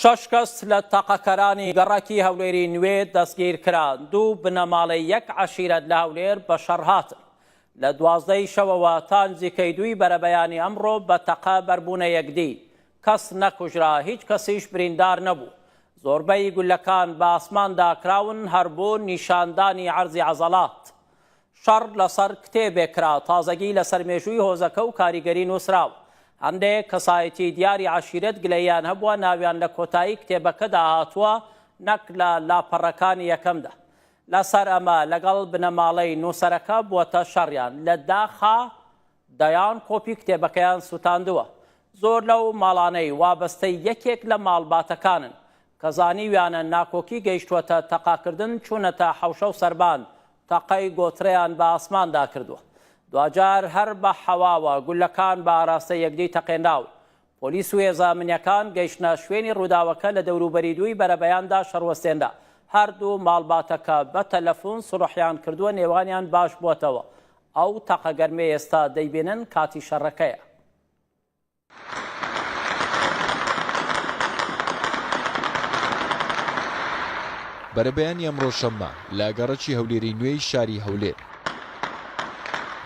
شەش کەس لە تەقەکەرانی گەڕەکی هەولێری نوێ دەستگیرکران، دوو بنەماڵەی یەک عەشیرەت لە هەولێر بەشەڕ هاتن. لە دوازدە ی شەوەوە تا نزیکەی دووی بەرەبەیانی ئەمڕۆ بە تەقە بەربوونە یەکدی، کەس نەکوژرا، هیچ کەسیش بریندار نەبوو. زۆربەی گولەکان بە ئاسماندا کراون، هەر بۆ نیشاندانی عەرزی عەزەڵات. شەڕ لەسەر کتێبێک کرا، تازەگی لەسەر مێژووی هۆزەکە و کاریگەری نووسراوە. هەندێک کەسایەتیی دیاری عەشیرەت گلەییان هەبووە، ناویان لە کۆتایی کتێبەکەدا هاتووە، نەک لە لاپەڕەکانی یەکەمدا. لەسەر ئەمە لەگەڵ بنەماڵەی نووسەرەکە بووەتە شەڕیان. لە داخا دەیان کۆپی کتێبەکەیان سووتاندووە. زۆر لەو ماڵانەی وابەستەی یەکێک لە ماڵباتەکانن، کە زانیویانە ناکۆکی گەیشتووەتە تەقاکردن، چوونەتە حەوشە و سەربان تەقەی گۆترەیان بە ئاسماندا کردووە، دواجار هەر بە حەواوە گولەکان بە ئاراستەی یەکدی تەقێنراون. پۆلیس و هێزە ئەمنییەکان گەیشتنە شوێنی رووداوەکە لە دەوروبەری دووی بەرەبەیاندا شەڕوەستێنرا، هەردوو ماڵباتەکە بە تەلەفون سوڵحیان کردووە نێوانیان باشبووەتەوە، ئەو تەقە گەرمەی ئێستا دەیبینن کاتی شەڕەکەیە. بەرەبەیانی ئەمڕۆ شەممە لە گەڕەکی هەولێری نوێی شاری هەولێر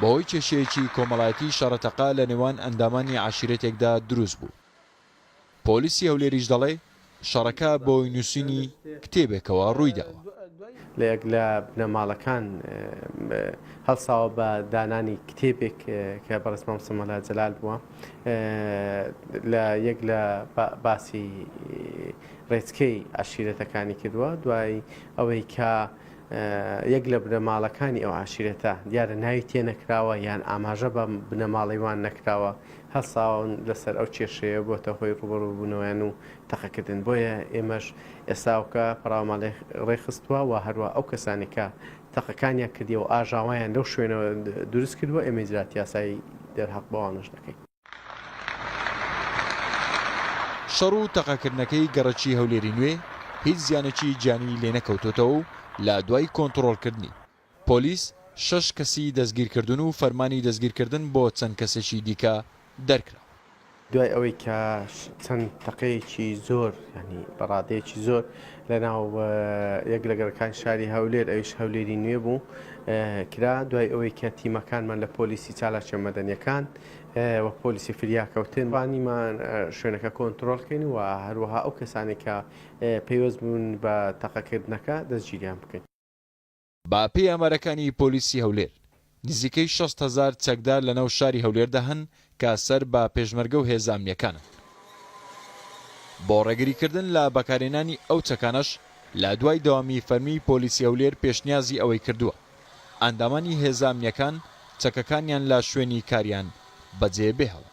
بەهۆی کێشەیەکی کۆمەڵایەتی شەڕەتەقا لە نێوان ئەندامانی عشیرەتێکدا دروست بوو پۆلیسی هەولێریش دەڵێ شەڕەکە بە هۆی نووسینی کتێبێکەوە ڕووی داوە. لە یەک لە بنەماڵەکان هەڵساوە بە دانانی کتێبێک کە بەڕێز مامۆستا مەلا جەلال بووە لە یەک لە باسی ڕێچکەی عەشیرەتەکانی کردووە دوای ئەوەی کە یەک لە بنەماڵەکانی ئەو عاشیرەتە دیارە ناوی تێ نەکراوە یان ئاماژە بە بنەماڵەی وان نەکراوە هەڵساون لەسەر ئەو کێشەیە بۆتە هۆی ڕووبەڕووبوونەوەیان و تەقەکردن، بۆیە ئێمەش ئێساوکە پەڕاومان ڕێکخستووە و هەروەها ئەو کەسانەی کە تەقەکانیان کردیە و ئاژاوەیان لەو شوێنە دروست کردووە، ئێمە ئیجرات یاسایی دەرهەق بەوانەش دەکەین. شەڕ و تەقەکردنەکەی گەڕەکی هەولێری نوێ هیچ زیانێکی گیانیی لێنەکەوتۆتەوە و لە دوای کۆنتڕۆڵکردنی، پۆلیس شەش کەسی دەستگیرکردوون و فەرمانی دەستگیرکردن بۆ چەند کەسێکی دیکە دەرکراوە. دوای ئەوەی کە چەند تەقەیەکی زۆر یانی بە ڕادەیەکی زۆر لە ناو یەک لە گەڕەکانی شاری هەولێر ئەویش هەولێری نوێ بوو کرا، دوای ئەوەی کە تیمەکانمان لە پۆلیسی چالاکییە مەدەنییەکان و پۆلیسی فریاکەوتن توانیمان شوێنەکە کۆنترۆڵ بکەین و هەروەها ئەو کەسانەی کە پەیوەست بوون بە تەقەکردنەکە دەستگیریان بکەین. بەپێی ئامارەکانی پۆلیسی هەولێر، نزیکەی شەست هەزار چەکدار لەناو شاری هەولێردا هەن کە سەر بە پێشمەرگە و هێزە ئەمنییەکانن. بۆ ڕێگریکردن لە بەکارهێنانی ئەو چەکانەش لە دوای دەوامی فەرمی، پۆلیسی هەولێر پێشنیازی ئەوەی کردووە ئەندامانی هێزە ئەمنییەکان چەکەکانیان لە شوێنی کاریان بەجێبهێڵن.